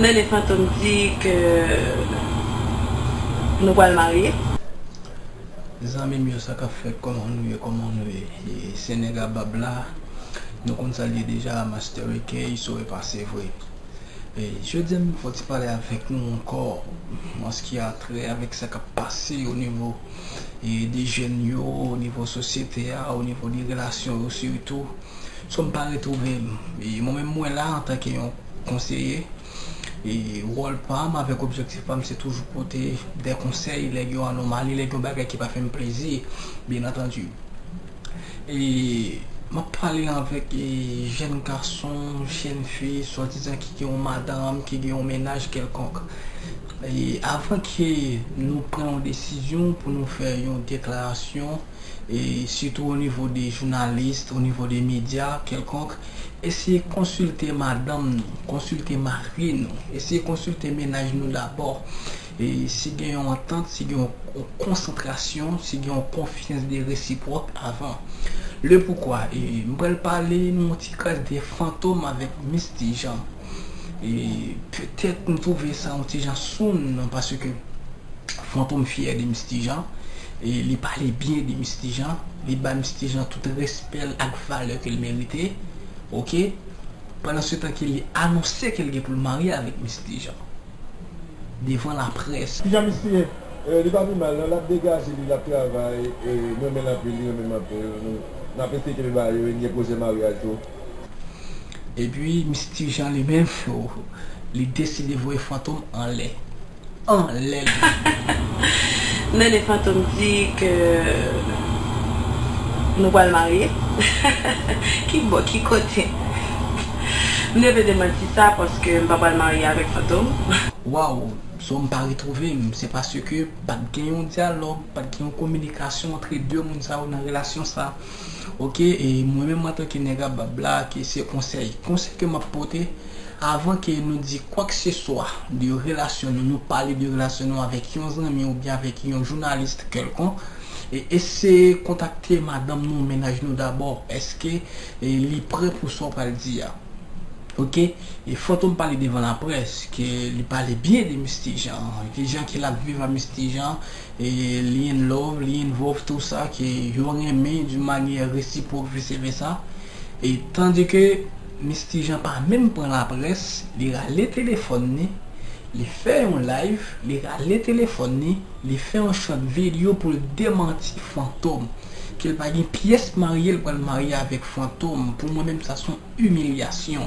Nene fantom di ke nou pral marye. Zanmim yo sakap fèt kòman nou ye kòman nou ye se nèg a bab la nou konn sal ye deja master ekey so epa sevre jodia m fè yon ti pale avèk nou ankò anski a trè avèk sa kap pase o nivo de jèn yo, o nivo sosyete a, o nivo de relasyon yo sitou. So m pa retwouve m. E mwen menm mwen la antanke yon konseye. E wòl pa m avèk objektif pa m se toujou pote de konsèy lè gen yon anomali, lè gen yon bagay ki pa fè m plezi byen antandi. E m ap pale avèk jèn gason, jèn fi, swadizan ki gen yon madanm, ki gen yon mennaj kèlkonk. Avan ke nou pran yon desizyon pou nou fè yon deklarasyon, sitou onivo de jounalis, onivo de medya kèlkonk, eseye konsilte madanm nou, konsilte mari nou, eseye konsilte mennaj nou dabò. Si gen yon antant, si gen yon konsantrasyon, si gen yon konfyans de resipwòk avan. Le poukwa, m pral pale nou yon ti kras de fantom avèk Misty Jean. E petèt m twouve sa yon ti jan soun nan paske Fantom fyè de Misty Jean e li pale byen de Misty Jean, li bay Misty Jean tout respè l ak valè ke l merite ok, pandansetan ke li anonse ke l gen pou l marye avèk Misty Jean devan laprès. Kijan Misty ye? Li pa pi mal non, lap degaje li, lap travay, mrenmenl anpil, li renmenm anpil, nap eseye kenbe ba yo e m gen pwojè maryaj tou. Epi Misye Ti Jean li menm li deside voye Fantom anlè. Anlè li ye. Nene Fantom di ke nou pral marye. Ki bò, ki kote? M devle demanti sa paske m pa pral marye avèk Fantom. Waww so m pa retwouve m se paske pat gen yon dyalòg, pat gen yon kominikasyon antre 2 moun sa yo nan relasyon sa. Ok e mwen menm antanke nèg a bab la ke se konsèy konsèy ke map pote avan ke nou di kwak se swa de relasyon nou nou pale de relasyon nou avèk yon zanmi oubyen avèk yon journaliste kèlkonk e eseye kontakte madanm nou mennaj nou dabò eske li prè pou sa ou pral di a ok e fantom pale devan laprès ke li pale byen de Misty Jean ki jan ke lap viv a Misty Jean Lyin love lyin vov tou sa ke yo renmen d'une manière réciproque vice versa e tandis ke Misty Jean pa menm pran la presse li rale téléphone ni li fè yon live li rale téléphone ni li fè yon short video poul demanti fantom kel pa gen pyès marye li pral marye avèk fantom pou mwen menm sa son humiliation.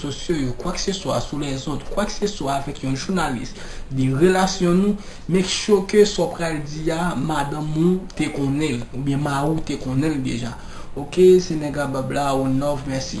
sosyo yo, kwakseswa sou lèzòt, kwakseswa avèk yon jounalis, de relasyon nou, make sure ke sa w pral di a madanm ou te konnen l oubyen mari w te konnen l deja ok se nèg a bab la o nov mèsi.